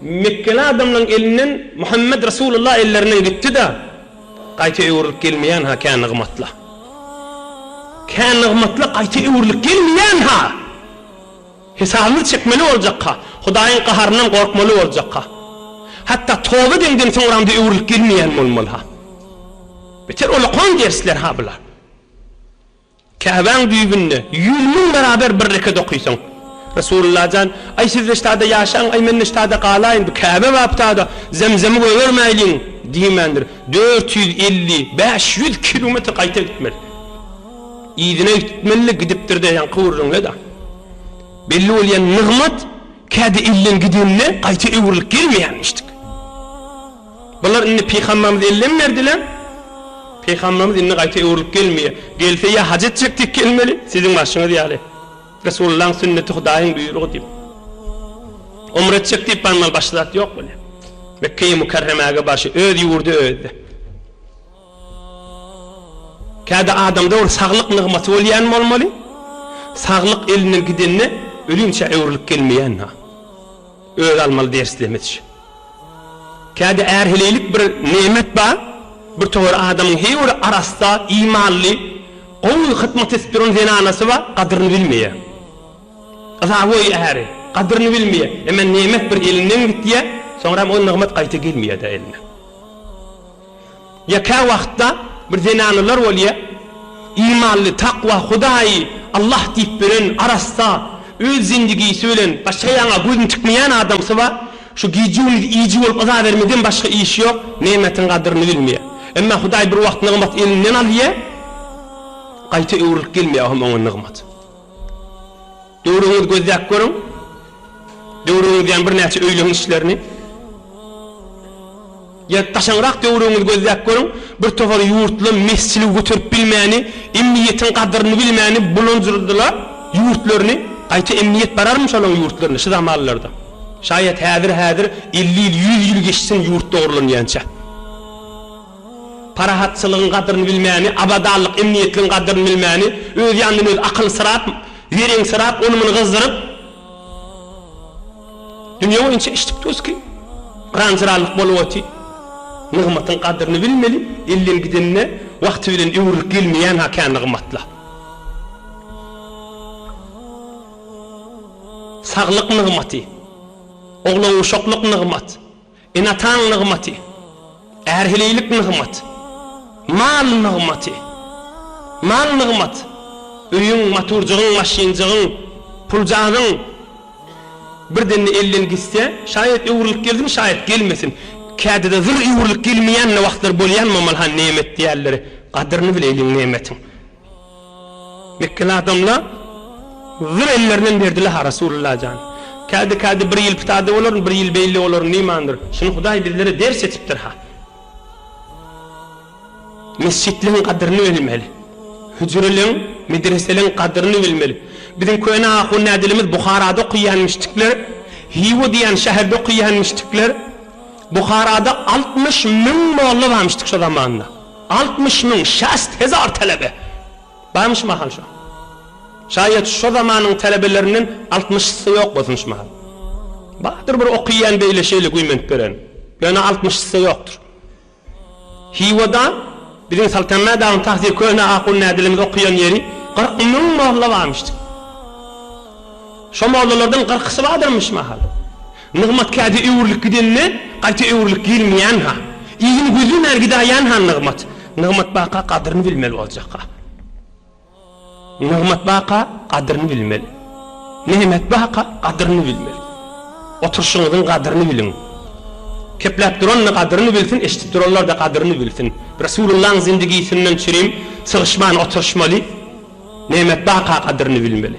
Mekgeli adamlaň elinden Muhammet Resulullah ellerinden gitdi-de, gaýta öwrülip gelmeýän-ha kä nygmatla. Kä nygmatla gaýta öwrülip gelmeýän-ha! Hesabymyzy çekmeli boljak-ha, Hudaýyň gaharyndan gorkmaly boljak-ha. Hatda toba edenden soňram-da öwrülip gelmeýän bolmaly-ha. Beter olakan dersler-ha bular. Käbäň düýbünde ýüz müň baraber bir rekat okysaň. Resulullah jan, Aý siz Reştada ýaşaň, aý men Neştada galaýyn, bu Käbe bapdada Zemzemi gögermäýliň! diýmändir. Dört ýüz elli, bäş ýüz kilometr gaýta gitmeli. Yzyna gitmeli, gidipdir-de, ýaňky gürrüňde-de belli bolýan nygmat, kädi elden gidende gaýta öwrülip gelmeýärmişdik. Bular indi Pygamberimize ellem berdiler. Pygamberimiz indi gaýta öwrülip gelmeýär. Gelse ýa haj etjek diýip gelmeli, siziň barşyňyz ýaly. Resulullahyň sünneti Hudaýyň buýrugy diýip. Umra etjek diýip barmaly, başga zat ýok welin. Mekgeýi Mükerremäge barşy öz ýurdy özde. Käbir adamda ol saglyk nygmaty bolýan bolmaly, saglyk elinden gidende ölümçä öwrülip gelmeýän-a. Özi almaly ders demeç. Käbir ärheleýlik bir nemet bar, bir towar adamyň heý bir arassa, imanly, gowy hyzmat edip duran zenanasy bar, gadyryny bilmeýär. Yzaboý äri, gadyryny bilmeýär. Emma nemet bir elinden gidýär, soňram ol nygmat gaýta gelmeýär-dä eline. Ýa kä wagtda bir zenanalar bolýa, imanly, takwa, Hudaýy Allah diýip bilen, arassa, öz zendigisi bilen başga ýaňa gözüni tikmeýän adamsy bar, şu gije-gündiz iýiji bolup yza bermeden başga işi ýok, nemetiň gadyryny bilmeýä. Emma Hudaý bir wagt nygmat elinden alýa, gaýta öwrülip gelmeýä hem oňa nygmat. Döwrüňizi gözläp görüň. Döwrüňizdäm birnäçe öýleň işlerini. Ýa daşaňrak döwrüňizi gözläp görüň, bir topar ýurtly mesjili göterip bilmäni, emniýetiň gadyryny bilmäni bulanjyrdylar ýurtlaryny. Gaýta emniýet bararmy şolaň ýurtlaryna şu zamanlarda? Şaýat häzir-häzir elli ýyl, ýüz ýyl geçsin ýurt dogrulanýança. Parahatçylygyň gadyryny bilmäni, abadanlyk, emniýetligiň gadyryny bilmäni, öz ýanyndan özi akylsyrap, zereňsirap, ony-muny gyzdyryp, dünýe boýunça içdik-töski, gyran-jyranlyk bolup otyr. Nygmatyň gadyryny bilmeli, elden gidende wagty bilen öwrülip gelmeýän-ha kän nygmatlar. Saglyk nygmaty, oglan-uşaklyk nygmat. Ene-ataň nygmaty, ärhililik nygmat, mal nygmaty. Mal nygmat, öýüň, maturjygyň, maşynjygyň, puljagaň bir demde elden gitse, şaýat öwrülip gelsin, şaýat gelmesin, kädide zyr öwrülip gelmeýän-de wagtlary bolýan, mamal han nemet diýerler, gadyryny bileýliň nemetiň. Mekgeli adamlar zor ellerinem berdiler ha Rasulullah jan. Kädi-kädi bir ýyl pitade bolaryn, bir ýyl beýle bolaryn diýmandir. Şuny Hudaý bizlere ders etipdir ha. Mesjitleň gadyryny bilmeli. Hüjreleň, medreseleň gadyryny bilmeli. Biziň köne ahun ädilimiz Buharada okyýanmişdikler, Hiwa diýen şäherde okyýanmişdikler. Buharada altmyş müň molla barmyşdyk şo zamanda. Altmyş müň, şäst hezar telebe barmy şu mahal şo? Şaýat şo zamanyň telebelerinden altmyşysy ýok bolsun şu mahal. Bardyr bir okyýan beýle şeýle güýmenip beren. Ýöne altmyşysy ýokdur. Hiwada biziň Saltanma dagyň tagty köne ahun nädilimiz okyýan ýeri kyrk müň molla barmyşdy. Şo mollalardan kyrkysy bardyrmy şu mahal? Nygmat käte öwrülip gidende, gaýta öwrülip gelmeýän-ha. Yzyny gözlemän gidäýen-ha Nygmat. Nygmat baka gadryny bilmeli boljak-ha. Nygmat baka gadryny bilmeli. Nygmat baka gadryny bilmeli. Oturyşyňyzyň gadryny biliň. Kepläp duran-da gadryny bilsin, eşidip duranlar-da gadryny bilsin. Resulyllaň zindigisinden çirim sygyşman oturyşmaly. Nygmat baka gadryny bilmeli.